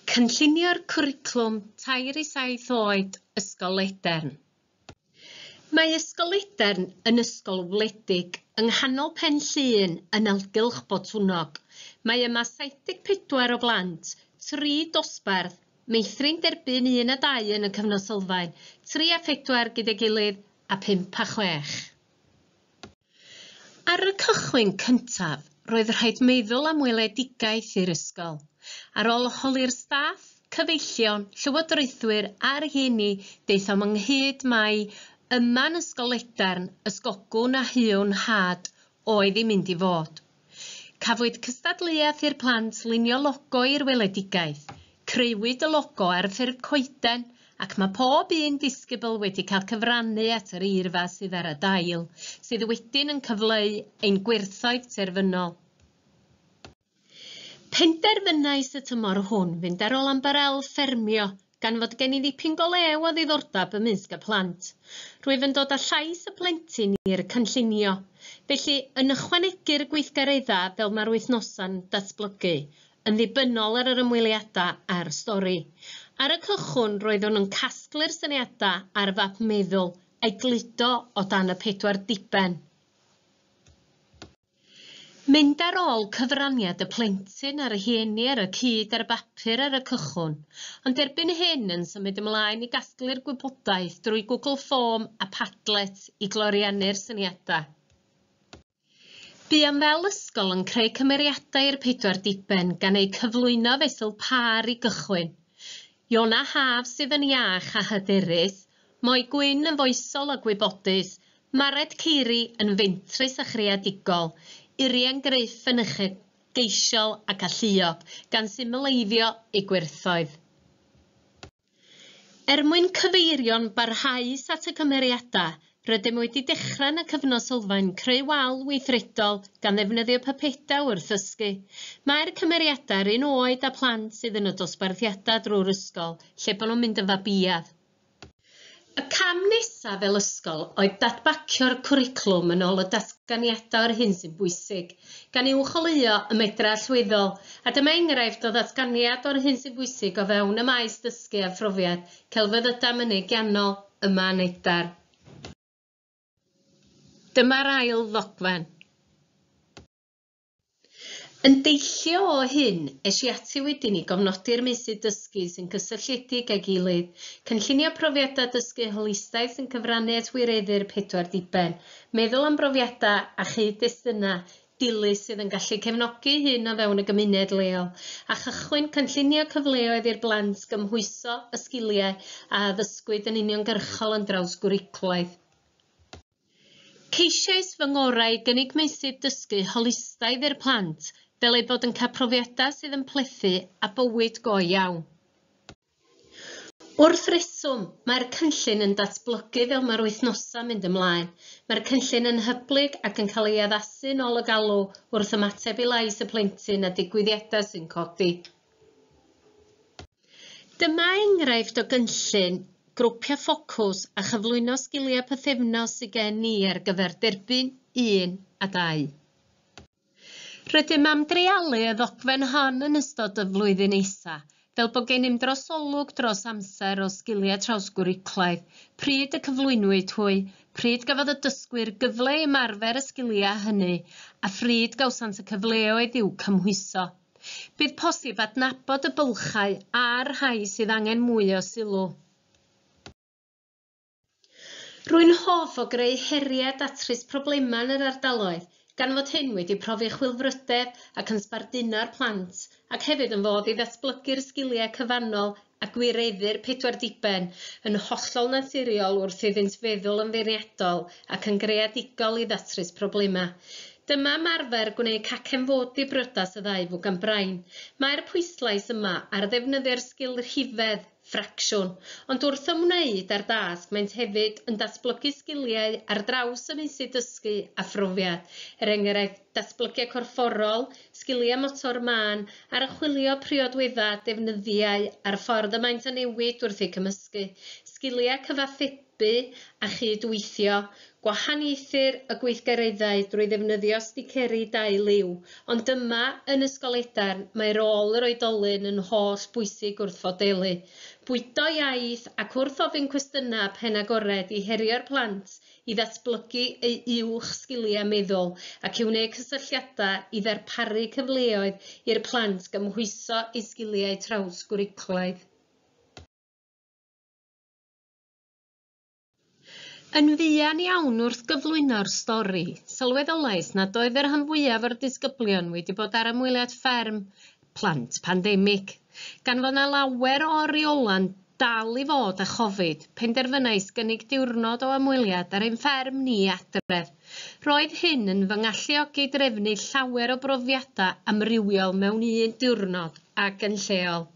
Cynllunio'r cwricwlwm tair i saith oed Ysgol Ledern Mae Ysgol Ledern yn ysgol wledig yng nghanol Pen Llŷn yn nalgylch Botwnnog. Mae yma 74 o blant, tri dosbarth, meithrin derbyn un a dau yn y cyfnod sylfaen, tri a phedwar gyda'i gilydd a phump a chwech. Ar y cychwyn cyntaf, roedd rhaid meddwl am weledigaeth i'r ysgol. Ar ôl holi'r staff, cyfeillion, llywodraethwyr a rhieni daethom ynghyd mai yma'n ysgol Ledarn, ysgogwn a huwn nhad, oedd i mynd i fod. Cafwyd cystadleuaeth i'r plant lunio logo i'r weledigaeth, creuwyd y logo ar ffurf coeden ac mae pob un disgybl wedi cael cyfrannu at yr eirfa sydd ar y dail, sydd wedyn yn cyfleu ein gwerthoedd terfynol. Penderfynais y tymor hwn fynd ar ôl ambarel ffermio Gan fod gen i ddipyn go lew o ddiddordeb ymysg y plant, rwyf yn dod â llais y plentyn i'r cynllunio. Felly, yn ychwanegu'r gweithgareddau fel mae'r wythnosau'n datblygu, yn ddibynnol ar yr ymweliadau a'r stori. Ar y cychwyn, roeddwn yn casglu'r syniadau ar fap meddwl, a'i gludo o dan y pedwar diben. Mynd ar ôl cyfraniad y plentyn a'r rhieni ar y cyd ar y bapur ar y cychwyn, ond erbyn hyn yn symud ymlaen i gasglu'r gwybodaeth drwy Google Form a Padlet i gloriannu'r syniadau. Buom fel ysgol yn creu cymeriadau i'r pedwar diben gan eu cyflwyno fesul pâr i gychwyn, Iona Haf sydd yn iach a hyderus, Moi Gwyn yn foesol a gwybodus, Mared Ceiri yn fentrus a chreadigol, Urien Gruff yn uchelgeisiol ac alluog, gan symleiddio ei gwerthoedd. Er mwyn cyfeirio'n barhaus at y cymeriadau, rydym wedi dechrau yn y cyfnod sylfaen creu wal weithredol gan ddefnyddio pypedau wrth ddysgu. Mae'r cymeriadau yr un oed â plant sydd yn y dosbarthiadau drwy'r ysgol, lle bod nhw'n mynd yn fabiaidd. Y cam nesaf fel ysgol oedd dadbacio'r cwricwlwm yn ôl y datganiadau o'r hyn sy'n bwysig, gan uwcholeuo y medr allweddol, a dyma enghraifft o ddatganiad o'r hyn sy'n bwysig o fewn y maes dysgu a phrofiad celfyddydau mynegiannol ym Mân Edar. Dyma'r ail ddogfen. Yn deillio o hyn, es i ati wedyn i gofnodi'r meysydd dysgu sy'n gysylltiedig â'i gilydd, cynllunio profiadau dysgu holistaidd sy'n cyfrannu at wireddu'r pedwar diben, meddwl am brofiadau a chyd-destunau dilys sydd yn gallu cefnogi hyn o fewn y gymuned leol, a chychwyn cynllunio cyfleoedd i'r blant gymhwyso y sgiliau a addysgwyd yn uniongyrchol yn drawsgwricwlaidd. Ceisiais fy ngorau i gynnig meysydd dysgu holistaidd i'r plant fel eu bod yn cael profiadau sydd yn plethu a bywyd go iawn. Wrth reswm, mae'r cynllun yn datblygu fel mae'r wythnosau'n mynd ymlaen. Mae'r cynllun yn hyblyg ac yn cael ei addasu'n ôl y galw wrth ymateb i lais y plentyn a digwyddiadau sy'n codi. Dyma enghraifft o gynllun grwpio ffocws a chyflwyno sgiliau pythefnos sydd gen i ar gyfer derbyn un a dau. Rydym am dreialu y ddogfen hon yn ystod y flwyddyn nesa, fel bod gennym drosolwg dros amser o sgiliau trawsgwricwlaidd, pryd y cyflwynwyd hwy, pryd gafodd y dysgwyr gyfle i ymarfer y sgiliau hynny, a phryd gawsant y cyfleoedd i'w cymhwyso. Bydd posib adnabod y bylchau a'r rhai sydd angen mwy o sylw. Rwy'n hoff o greu heriau a datrys problemau yn yr ardaloedd, gan fod hyn wedi profi chwilfrydedd ac yn sbarduno'r plant, ac hefyd yn fodd i ddatblygu'r sgiliau cyfannol a gwireddu'r pedwar diben, yn hollol naturiol wrth iddynt feddwl yn feirniadol ac yn greadigol i ddatrys problemau. Dyma ymarfer gwneud cacen fod i briodas y ddau fwgan brain. Mae'r pwyslais yma ar ddefnyddio'r sgil rhifedd, ffracsiwn, ond wrth ymwneud â'r dasg maent hefyd yn datblygu sgiliau ar draws y meysydd dysgu a phrofiad, er enghraifft, datblygiad corfforol, sgiliau motor mân Archwilio priodwydda a defnyddiau a'r ffordd y maent yn newid wrth eu cymysgu, sgiliau cyfathrebu a chyd-weithio, gwahaniaethir y gweithgareddau drwy ddefnyddio sticeri dau liw, ond yma, yn Ysgol Edern, mae rôl yr oedolyn yn holl bwysig wrth fodelu, bwydo iaith ac wrth ofyn cwestiynau pen agored i herio'r plant i ddatblygu ei uwch sgiliau meddwl ac i wneud cysylltiadau i ddarparu cyfleoedd i'r plant gymhwyso eu sgiliau trawsgwricwlaidd. Yn fuan iawn wrth gyflwyno'r stori, sylweddolais nad oedd y rhan fwyaf o'r disgyblion wedi bod ar ymweliad fferm plant pandemig. Gan fod 'na lawer o oriolan dal i fod â Chofid, penderfynais gynnig diwrnod o ymweliad ar ein fferm ni adref. Roedd hyn yn fy ngalluogi drefnu llawer o brofiadau amrywiol mewn un diwrnod ac yn lleol.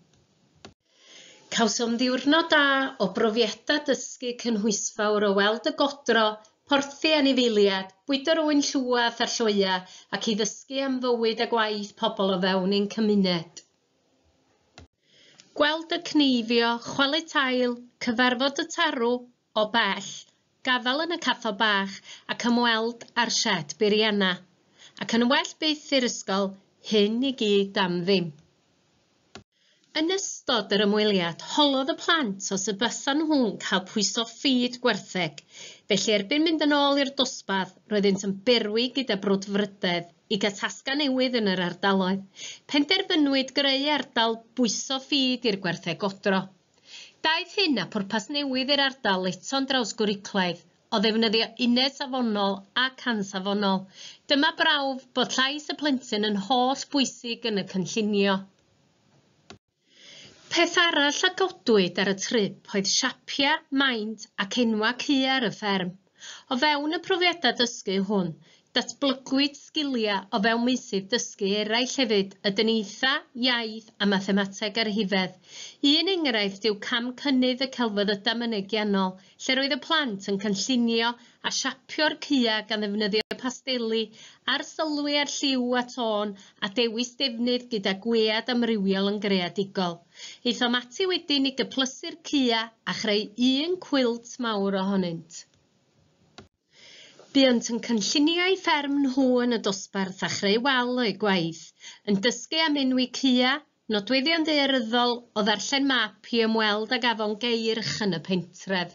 Cawsom ddiwrnod da o brofiadau dysgu cynhwysfawr o weld y godro, porthi anifeiliad, bwydo'r ŵyn llwad a'r lloeau ac i ddysgu am fywyd a gwaith pobl o fewn ein cymuned. Gweld y cneifio, chwalu tail, cyfarfod y tarw, O bell, gadael yn y cathod bach ac ymweld â'r sied biriana. Ac yn well byth i'r ysgol, hyn i gyd am ddim. Yn ystod yr ymweliad, holodd y plant os y bysan nhw'n cael pwyso ffid gwartheg, felly erbyn mynd yn ôl i'r dosbarth, roeddynt yn berwi gyda brwdfrydedd i gael tasgau newydd yn yr ardaloedd. Penderfynwyd greu ardal bwyso ffid i'r gwartheg godro. Daeth hyn â phwrpas newydd i'r ardal eto'n drawsgwricwlaidd, o ddefnyddio uned safonol ac ansafonol. Dyma brawf bod llais y plentyn yn holl bwysig yn y cynllunio. Peth arall a godwyd ar y trip oedd siapiau, maint ac enwau cuar y fferm. O fewn y profiadau dysgu hwn, datblygwyd sgiliau o fewn meysydd dysgu eraill hefyd, y dyniaetha, iaith a mathemateg ar huffedd. Un enghraifft yw cam cynnydd y celfyddydau mynegiannol, lle roedd y plant yn cynllunio a siapio'r caeau gan ddefnyddio pasteli, arsylwi ar lliw a tôn a dewis defnydd gyda gwead amrywiol yn greadigol. Aethom ati wedyn i gyplysu'r cua a chreu un cwilt mawr ohonynt. Buont yn cynlluniau fferm nhw yn y dosbarth a chreu wal o'u gwaith, yn dysgu am enwi cua, nodweddion ddaearyddol, o ddarllen map i ymweld ag afon Geirch yn y pentref.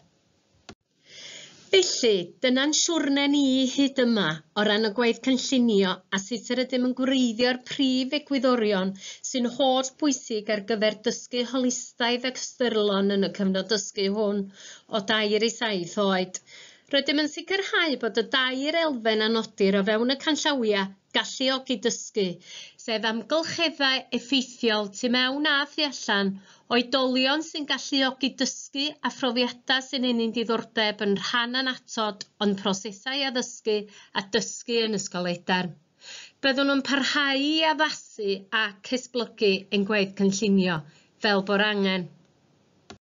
Felly, dyna'n siwrne ni hyd yma o ran y gwaith cynllunio a sut yr ydym yn gwreiddio'r prif egwyddorion sy'n holl bwysig ar gyfer dysgu holistaidd ac ystyrlon yn y cyfnod dysgu hwn o dair i saith oed. Rydym yn sicrhau bod y dair elfen a nodir o fewn y canllawiau Galluogi Dysgu, sef amgylcheddau effeithiol tu mewn a thu allan, oedolion sy'n galluogi dysgu a phrofiadau sy'n ennyn diddordeb yn rhan annatod o'n prosesau addysgu a dysgu yn Ysgol Edern. Byddwn yn parhau i addasu ac esblygu ein gwaith cynllunio fel bo'r angen.